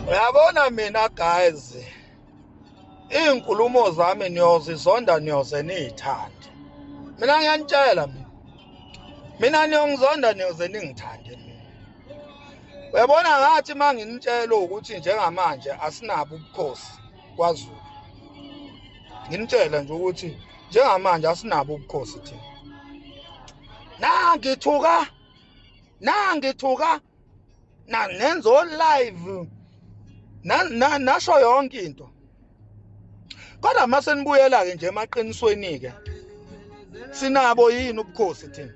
uyabona mina guys iy'nkulumo zami niyozizonda niyoze niyithande mina ngiyanitshela mina mina niyongizonda niyoze ningithande mina uyabona ngathi uma nginitshela ukuthi njengamanje asinabo ubukhosi kwazulu nginitshela nje ukuthi njengamanje asinabo ubukhosi thina nangithuka nangithuka na nenza o live na, na nasho yonke into kodwa mase nibuyela ke nje emaqinisweni ke sinabo yini ubukhosi thina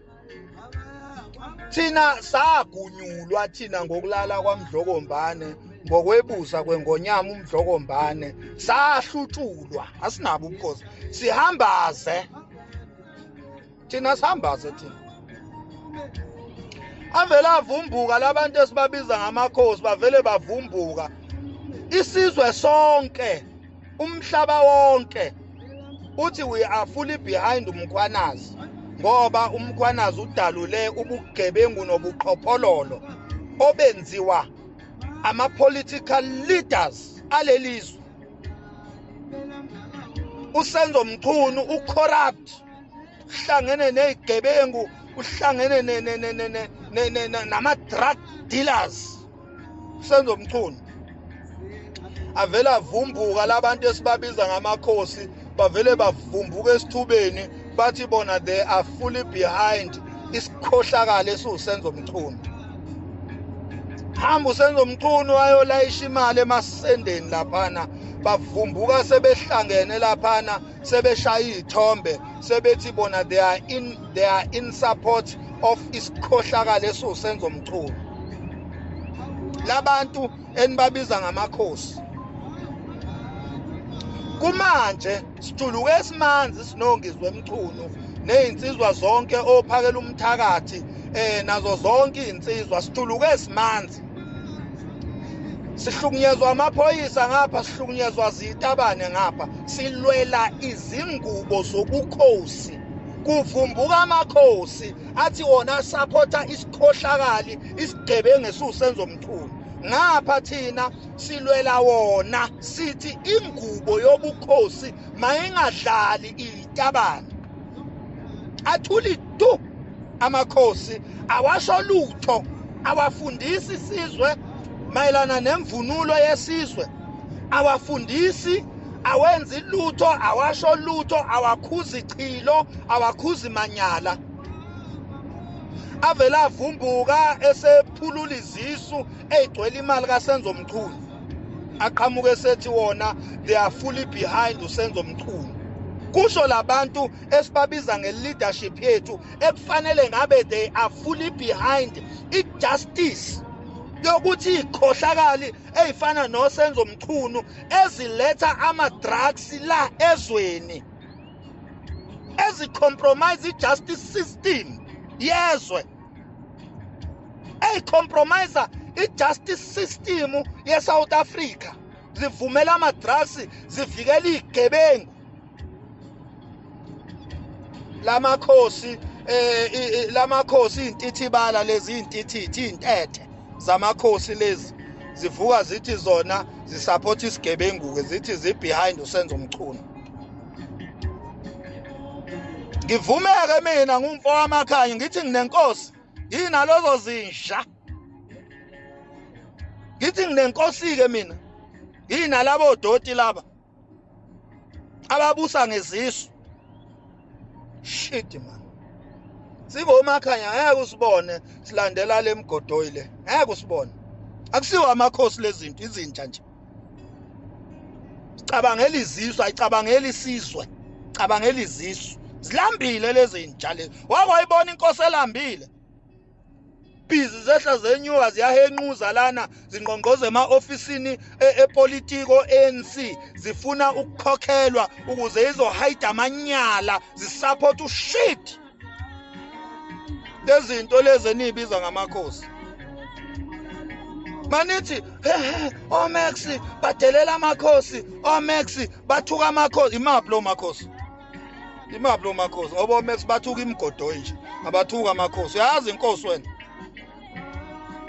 thina sagunyulwa thina ngokulala kwamdlokombane ngokwebusa kwengonyama umdlokombane sahlutshulwa asinabo ubukhosi sihambaze thina sihambaze thina avele avumbuka labantu esibabiza ngamakhosi bavele bavumbuka isizwe sonke umhlaba wonke uthi we are fully behind umkhwanazi ngoba umkhwanazi udalule ubugebengu nobuqhophololo obenziwa ama-political leaders alelizwe usenzo mchunu ucorrupt uhlangene nezigebengu uhlangene nama drug dealers senzo mchunu avela avumbuka labantu esibabiza ngamakhosi bavele bavumbuka esithubeni bathi bona they are fully behind isikhohlakala esiwusenzo mchunu hamba usenza umchunu wayolayisha imali emasendeni laphana bavumbuka sebehlangene laphana sebeshaya izithombe sebethi bona they are in they are in support of isikhohlakala esiwusenzo mchunu labantu enibabiza ngamakhosi kumanje sijuluke esimanzi sinongizwe emchunu nezinsizwa zonke ophakela umthakathi eh nazo zonke izinsizwa sijuluke esimanzi sihlukunyezwa amaphoyisa ngapha sihlukunyezwa zitabane ngapha silwela izingubo zobukhosi kuvumbuka amakhosi athi wona asaphotha isikhohlakali isigebengu esiwusenzo mthuni ngapha thina silwela wona sithi ingubo yobukhosi mayingadlali itabane athuli tu amakhosi awasho lutho awafundisi isizwe mayelana nemvunulo yesizwe awafundisi awenzi lutho awasho lutho awakhuzi chilo awakhuzi manyala avele avumbuka esephulula izisu eyigcwele imali kasenzo mchunu aqhamuke esethi wona they are fully behind usenzo mchunu kusho labantu esibabiza ngeleadership yethu ekufanele ngabe they are fully behind ijustice yokuthi ikhohlakali ezifana nosenzo mchunu eziletha ama drugs la ezweni ezicompromise ijustice system yezwe eyicompromise i-justice system ye-south africa zivumela ama-drugs zivikela iy'gebengu lamakhosi eh lamakhosi intithibala lezi intithithi intethe zamakhosi lezi zivuka zithi zona zisupport isigebengu ke zithi zi behind usenzo mchunu ngivumeke mina ngumfo wamakhanya ngithi nginenkosi yinalozo zinja ngithi nginenkosi-ke mina yinalabo doti laba ababusa ngezisu shit man singomakhanya ngeke usibone silandela lemgodoyi le ngeke usibone akusiwo amakhosi lezinto izinja nje cabangela izizwe ayicabangela isizwe cabangela izizwe zilambile lezi nja lezi wake wayibona inkosi elambile ibhizi zehla zenyuka ziyahenquza lana zingqongqoza ema-ofisini e, epolitiko ANC zifuna ukukhokhelwa ukuze izohayida amanyala zisupport ushit lezinto lezi eniyibiza ngamakhosi manithi omax badelela amakhosi omax bathuka amakhosi imaphi lo makhosi imaphi lo makhosi ngoba omax bathuka imigodoyi nje abathuka amakhosi uyazi inkosi wena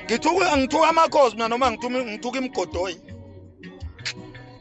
ngithuka ngithuka amakhosi mina noma ngithuka imigodoyi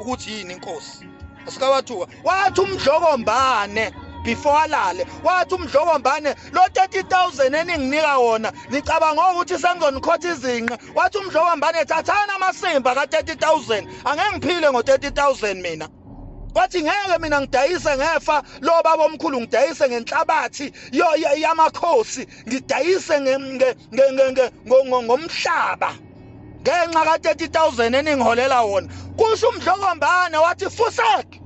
ukuthi yini inkosi asikawathuka wathi umdlokombane before alale wathi umdlokombane lo 30000 eninginika wona nicabanga ukuthi sengizonikhotha izinqa wathi umdlokombane thathani amasimba ka 30000 angeke ngiphile ngo 30000 mina wathi ngeke mina ngidayise ngefa lo baba omkhulu ngidayise ngenhlabathi yamakhosi ngidayise ngomhlaba ngenxa ka 30000 eningiholela wona kusho umdlokombane wathi fusek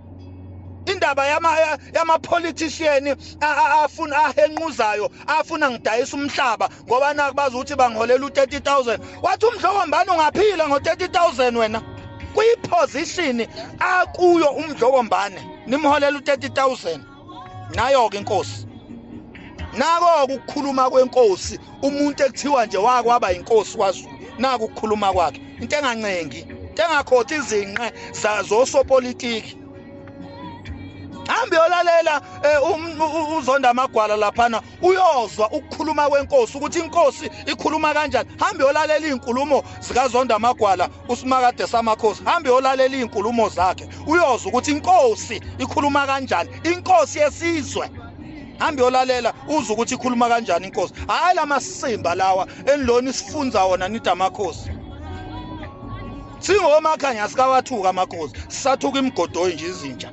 indaba yama yama politician afuna ahenquzayo afuna ngidayisa umhlaba ngoba nakubaza ukuthi bangiholela u30000 wathi umdlokombane ungaphila ngo 30000 wena kuyiposition akuyo umdlokombane nimholela u30000 nayo-ke inkosi nako ukukhuluma kwenkosi umuntu ekuthiwa nje wakwaba inkosi kwazulu naku ukukhuluma kwakhe into engancengi into engakhothi izinqe zosopolitiki hambe yolalela eh, um, uzonda amagwala laphana uyozwa ukukhuluma kwenkosi ukuthi inkosi ikhuluma kanjani hambe yolalela izinkulumo zikaZonda Magwala usimakade samakhosi hambe yolalela izinkulumo zakhe uyozwa ukuthi inkosi ikhuluma kanjani inkosi yesizwe hambe yolalela uze ukuthi ikhuluma kanjani inkosi hayi lamasimba lawa enilona isifunza wona nidamakhosi singomakhanya sikawathuka amakhosi sathuka imigodoyi nje izinja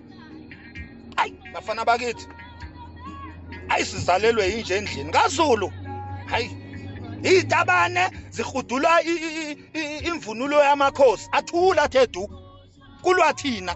ayi bafana bakithi ayi sizalelwe yinje endlini kaZulu hayi izitabane zihudula imvunulo yamakhosi athula thedu kulwa thina